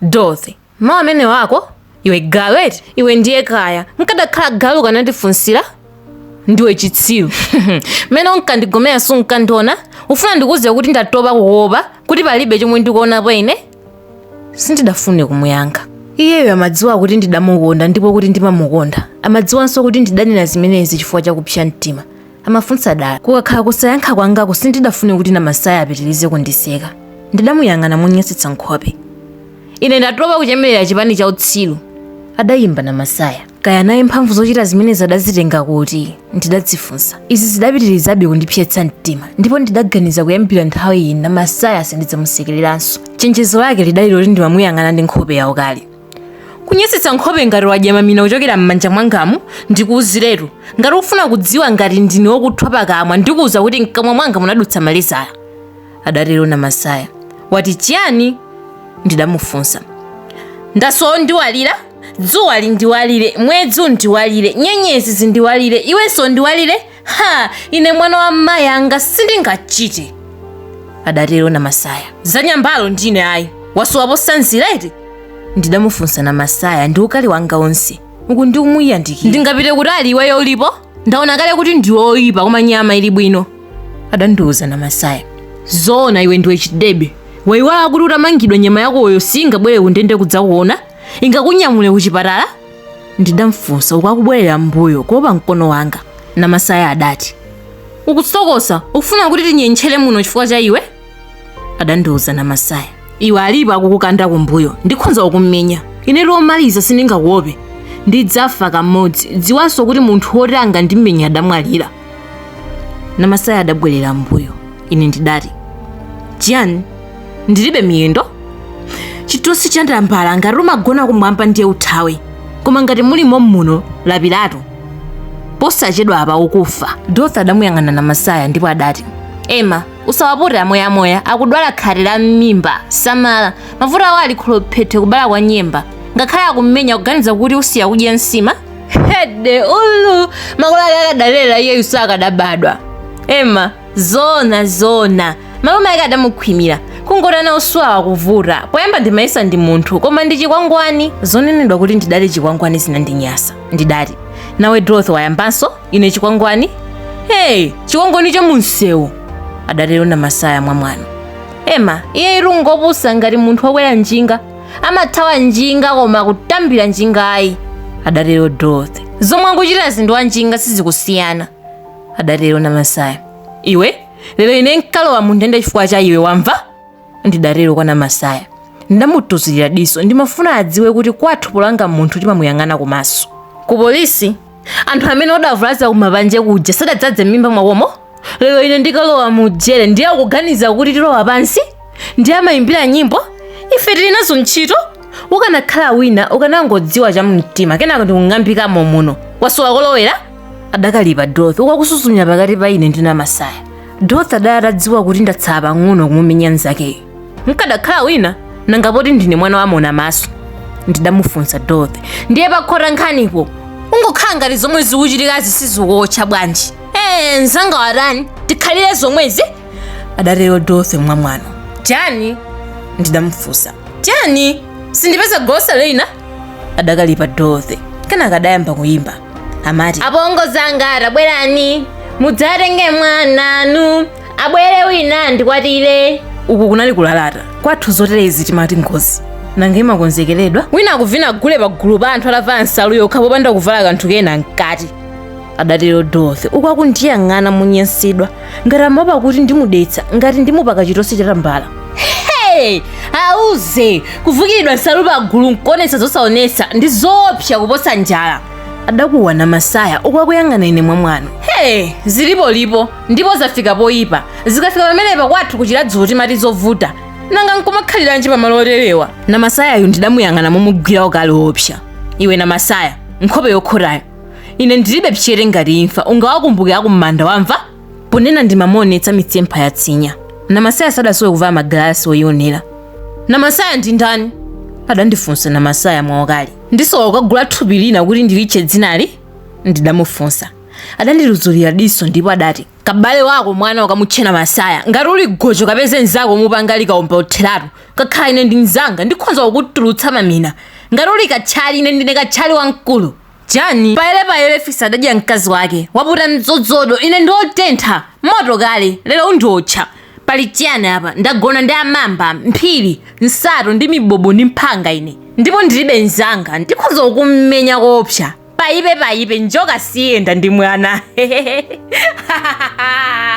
Dorothy, mawu amenewo ako? Iwe galu eti? Iwe ndiye kaya. Nkadakhala galu ukanandifunsira? Ndiwe chitsiru. Mmene unkandigomera sunkandiona? Ufuna ndikuuze kuti ndatopa kukuopa kuti palibe chomwe ndikuonapo ine? Sindidafune kumuyankha. Iyeyo amadziwa kuti ndidamukonda ndipo kuti ndimamukonda. Amadziwanso kuti ndidanena zimenezi chifukwa cha kupsa mtima. amafunsa dala kukakhala kusayankha kwangako sindidafune kuti namasaya apitirize kundiseka ndidamuyang'ana monyansitsa nkhope ine ndatopa kuchemerera chipani cha utsiru adayimba namasaya kaya naye mphamvu zochita zimenezi adazitenga kuti ndidadzifunsa izi zidapitirizabe kundipsetsa mtima ndipo ndidaganiza kuyambira nthawi iyi namasaya sindidzamusekereranso chenjezo lake lidali loti ndimamuyang'ana ndi nkhope yaukali kunyansitsa nkhope ngati wadya mamina kuchokera m'manja mwangamu ndikuuziretu ngati ukufuna kudziwa ngati ndine wokuthwa pakamwa ndikuuza kuti mkamwa mwanga munadutsa malezala adatero namasaya wati chiyani ndidamufunsa ndasowa ondiwalira dzuwa lindiwalire mwezi undiwalire nyenyezi zindiwalire iwenso undiwalire ha ine mwana wa mayi anga sindingachite adatero namasaya za nyambalo ndi ine ayi wasowa posanzira eti ndidamufunsa namasaya ndi ukali wanga onse uku ndikumuyandikira ndingapite kuti ali iweyo ulipo ndaona kale kuti ndiwe oyipa koma nyama ili bwino adandiuza namasaya zoona iwe ndiwe chidebe waiwala kuti utamangidwa nyama yakoyo singabwere kundende kudzakuona ingakunyamule kuchipatala Ndidamfunsa uku akubwerera m'mbuyo kuopa mkono wanga. Namasaya adati, Ukusokosa, ukufuna kuti tinyentchere muno chifukwa cha iwe? Adandiuza Namasaya. Iwe alipo akukukanda kumbuyo, ndikhonza kukumenya. Inetu omaliza sindingakuope. Ndidzafa kamodzi. Dziwanso kuti munthu woti angandimenya adamwalira. namasaya adabwerera mbuyo ine ndidati chiyani ndilibe miyendo chitosi cha tambala ngati umagona kumwamba ndiye uthawe koma ngati muli mommuno lapiratu posachedwa apa ukufa dorothy adamuyang'ana namasaya ndipo adati ema usawapute a moyamoya akudwala khate la m'mimba samala mavuto awo ali kholophethe kubala kwa nyemba ngakhale akumenya kuganiza kuti usiya kudya nsima hede ulu makolo ake akadalera iyeyu sakadabadwa ema zona zona malume ake adamukhwimira kungoti ana uswawa kuvuta poyamba ndimayesa ndi munthu koma ndi chikwangwani zonenedwa kuti ndidali chikwangwani zinandinyasa ndidati nawe dorothy wayambanso ine chikwangwani hey chikwangwani cha mumsewu adatero namasaya mwa mwano ema iye ati ungopusa ngati munthu wakwera njinga amathawa njinga koma kutambira njinga ayi adatero dorothy zomwe akuchitazi ndi za wanjinga sizikusiyana adatero namasaya iwe lero ine nkalowa mu ndende chifukwa cha iwe wamva ndidatero kwa namasaya nditamutuzulira diso ndimafuna adziwe kuti kwathu polanga munthu timamuyang'ana kumaso ku polisi anthu amene adavulaza kumapanje kuja sadadzadze m'mimba mwawomo lero ine ndikalowa mu jere ndiye akuganiza kuti tilowa pansi ndiye amayimbira nyimbo ife tili nazo ntchito ukanakhala wina ukanangodziwa cha mumtima kenako ndikunyamukamo muno wasowa kolowera adakalipa dorothy uku akusuzumira pakati pa ine ndi namasaya dorothy adali atadziwa kuti ndatsala pang'ono kumumenya mnzakeyo nkadakhala wina nanga poti ndine mwana waona maso ndidamufunsa dorothy ndiye pakhota nkhanipo kungokhala ngati zomwe zikuchitikazi sizikuwotcha bwanji ee mnzanga watani tikhalire zomwezi adatero dorothy mwamwano chani ndidamufunsa chani sindipeza gotsa lina adakalipa dorothy kenaka adayamba kuyimba amati apongozi anga tabwerani mudzatenge mwananu abwere wina andikwatire uku kunali kulalata kwathu zoterezi timati ngozi nanga imakonzekeredwa wina akuvina gule pa gulu pa anthu atavala nsalu yokha popanda kuvala kanthu kena mkati adatero dorothy uku akundiyang'ana monyansidwa ngati amaopa kuti ndimudetsa ngati ndimupaka chitosi chatambala hey auze kuvukulidwa nsalu pa gulu nkuonetsa zosaonetsa ndi zoopsa kuposa njala adakuwa namasaya uku akuyang'ana ine mwamwano hey zilipolipo Ndipo zafika poipa. Zikafika pamenepa kwathu ku Chiradzulo timati zovuta. Nanga nkumakhaliranji pamalo oterewa? Namasayayu ndidamuyang'ana momugwira ukali woopsa. Iwe Namasaya, nkhope yokhotayo. Ine ndilibe pchete ngati imfa, ungawakumbuke akumanda wamva? Ponena ndimamuonetsa mitsempha ya tsinya. Namasaya sadasowe kuvala magalasi oionera. Namasaya ndi ndani? adandifunsa Namasaya mwaukali. Ndisowa kukagula thupi lina kuti ndilitche dzinali? ndidamufunsa. Adandituzulira diso ndipo adati, Kabale wako mwana ukamutche Namasaya. Ngati uli gojo kapeze mnzako umupange likaomba otheratu. Kukhala ine ndi mnzanga ndikhonza kukutulutsa mamina. Ngati uli katchali ine ndine katchali wamkulu. Jane payerepayere fisi adadya mkazi wake. Waputa mdzodzodo ine ndi otentha. Moto kale, lero undiotcha. Pali chiyani apa? Ndagona ndi amamba, mphiri, nsato ndi mbobo m'mphanga ine. Ndipo ndilibe mnzanga. Ndikhonza kukumenya koopsa. paipe paipe njoka siyenda ndi mwana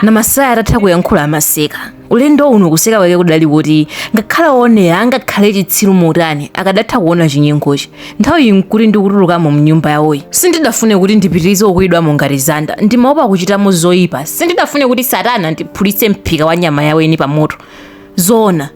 namasaya atatha kuyankhula amaseka ulendo uno kuseka kwake kudali koti ngakhale oonera angakhale chitsiru motani akadatha kuona chinyengochi nthawiyi nkuti ndikutulukamo m'nyumba yawoyi sindidafune kuti ndipitirize kukuwidwamo ngati zanda ndimaopa kuchitamo zoyipa sindidafune kuti satana andiphulitse mphika wa nyama yaweni pa moto zoona